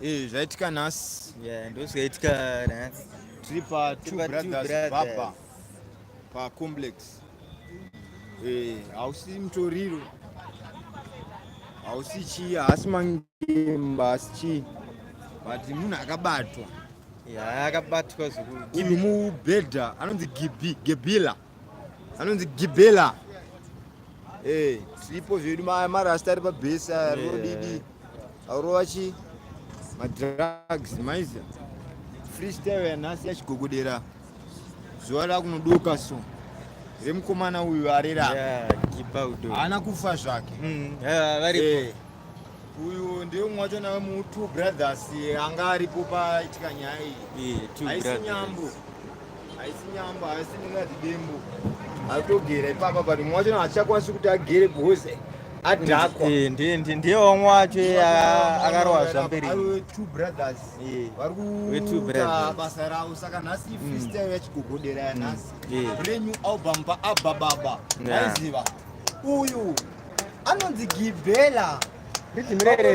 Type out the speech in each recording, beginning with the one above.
Eh, zvaitika nhasi yeah, ndozvaitika nhasi tiri pa two brothers baba pacomplex eh, hausi hey, mutoriro hausi chii haasi mangemba haasi chii but munhu akabatwa yeah, akabatwa zvekuu mubhedha anonzi gibi gebila yeah, anonzi gibela eh, siripo zvedu marasta ari pabhesi arodidi aurova chi madrugs maiza freestyle yanhasi yachigogodera zuva rakunodoka so remukomana uyu arera haana kufa zvake mm, eh, uyu ndiye umwe wacho nawe mu two brothers anga aripo paitika nyaya iyi haisi nyambo haisi nyambo haisi ndingati dembo atogera ipapa but umwe wacho achakwanisi kuti agere because adhakwa eh, ndiye wamwe wacho akarowa zvamberi two brothers eh, vari kuita basa ravo saka nhasi mm. freestyle yachigogodera yanhasi mm. eh. brand new album paabababa aiziva uyu anonzi gibhela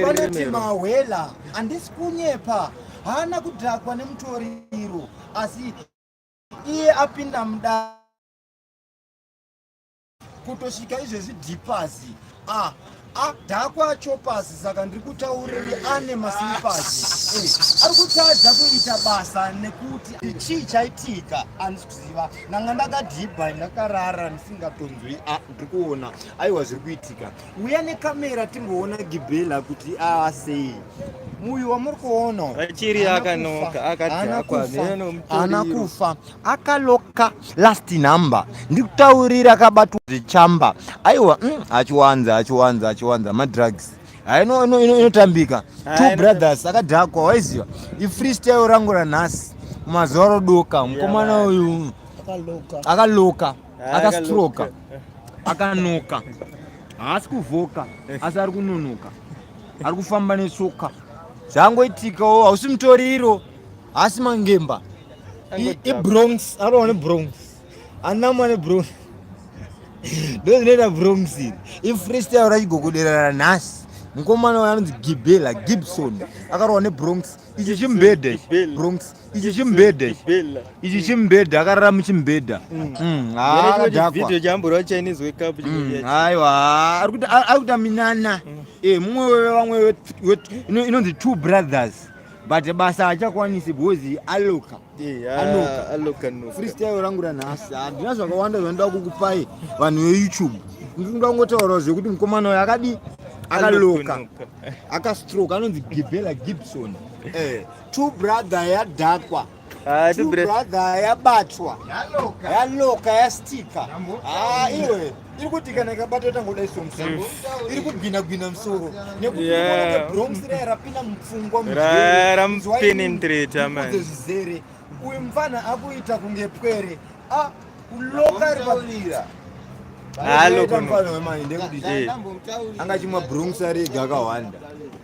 vanoti mahwela handisi kunyepa haana kudhakwa nemutoriro asi iye apinda mudare kutosvika izvezvi dhipazi a a dhakwa chopazi saka ndiri kutauriri ane masilipazi eh, ari kutadza kuita basa nekuti chii chaitika kuziva nanga ndakadhibha ndakarara ndisingatonzwi ah, ndiri kuona aiwa zviri kuitika uya nekamera timboona gibhela kuti aasei uyu wamuri kuona achiri akanoka akadhakwa haana kufa akaloka last number ndikutaurira akabatwa zvechamba aiwa mm, achiwanza achiwanza achiwanza madrugs Ah, inotambika ah, two brothers akadhakwa waiziva ifreestyle rangu ranhasi mazuva rodoka mukomana uyu akaloka ah, akastroka akanoka haasi kuvhoka asi ari kunonoka ari kufamba netsoka zvangoitikawo hausi mutoriro haasi mangemba ibronx anowa nebronx Anna mwana bro. Ndozvinoita bro msiri. I freestyle rachigogoderana nhasi. mukomana wayo anonzi gibela gibson akarohwa nebronx ichi chimbedha bronx ichi chimbedha ichi chimbedha akarara muchimbedha mm. mm, mm, aiwa ari kuita minana eh, mumwe wevamwe inonzi two brothers but basa achakwanisi bhozi aloka freestyle rangu ranhasi handina zvakawanda zvandinoda kukupai vanhu veyoutube ndinoda kungotaurawo zvekuti mukomana uyo akadii akaloka akastroke anonzi gibela gibson eh, two brother yadhakwa ah, two brother yabatwa yaloka yastika ah, iwe iri kuti kana ikabata itangodai so musango iri kugwina gwina musoro nekuti bronx raya rapinda mupfungwa muzvaipenetrata manje zvizere uyu mfana akuita kunge pwere a kuloka ari papira halo mfana wemainde kuti angachimwa bronx arega akawanda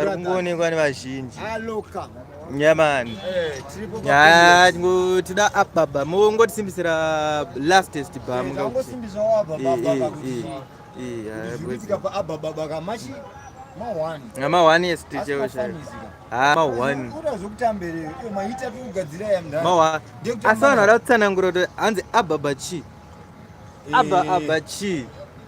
ari kungoonekwa nevazhinji nyamani eh, tida up baba mongotisimbisira lastest bamnga amahwani esiticheoasana ada kutsanangura kuti hanzi ababa chi aba aba chi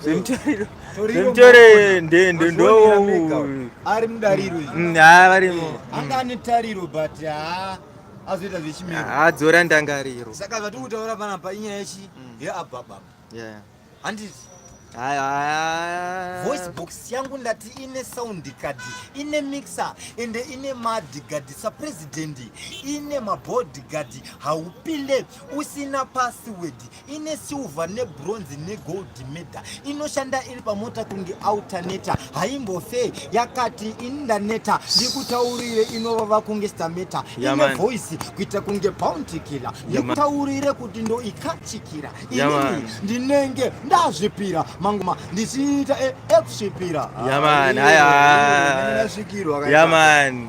Zvemutoriro. Zvemutoriro nde nde ndo. Ari mudariro izvi. Mm, ha varimo. Mm. Anga ane tariro but ha azoita zvechimiro. Ha dzora ndangariro. Saka vati kutaura pana pa inyaya yechi mm. ye ababa. Yeah. Handiti voice box yangu ndati ine sound card ine mixer ende ine madgard sapresident ine maboard gard haupinde usina password ine silver nebronze negold medal inoshanda iri pamota kunge alternator haimbofe yakati ini ndaneta ndikutaurire inovava kunge stameta ine voice kuita kunge bounty killer ndikutaurire kuti ndo ikachikira inini ndinenge ndazvipira mangoma ndichiita e, ekusvipira yamani haya yamani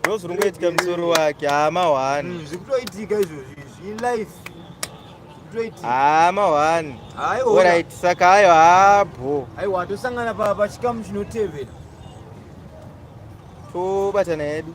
ndozviri kungoitika musoro wake hama wani mm, zvikutoitika izvozvi izvi ilife hama wani orit saka ayo habho aiwa tosangana pachikamu chinotevera tobatana hedu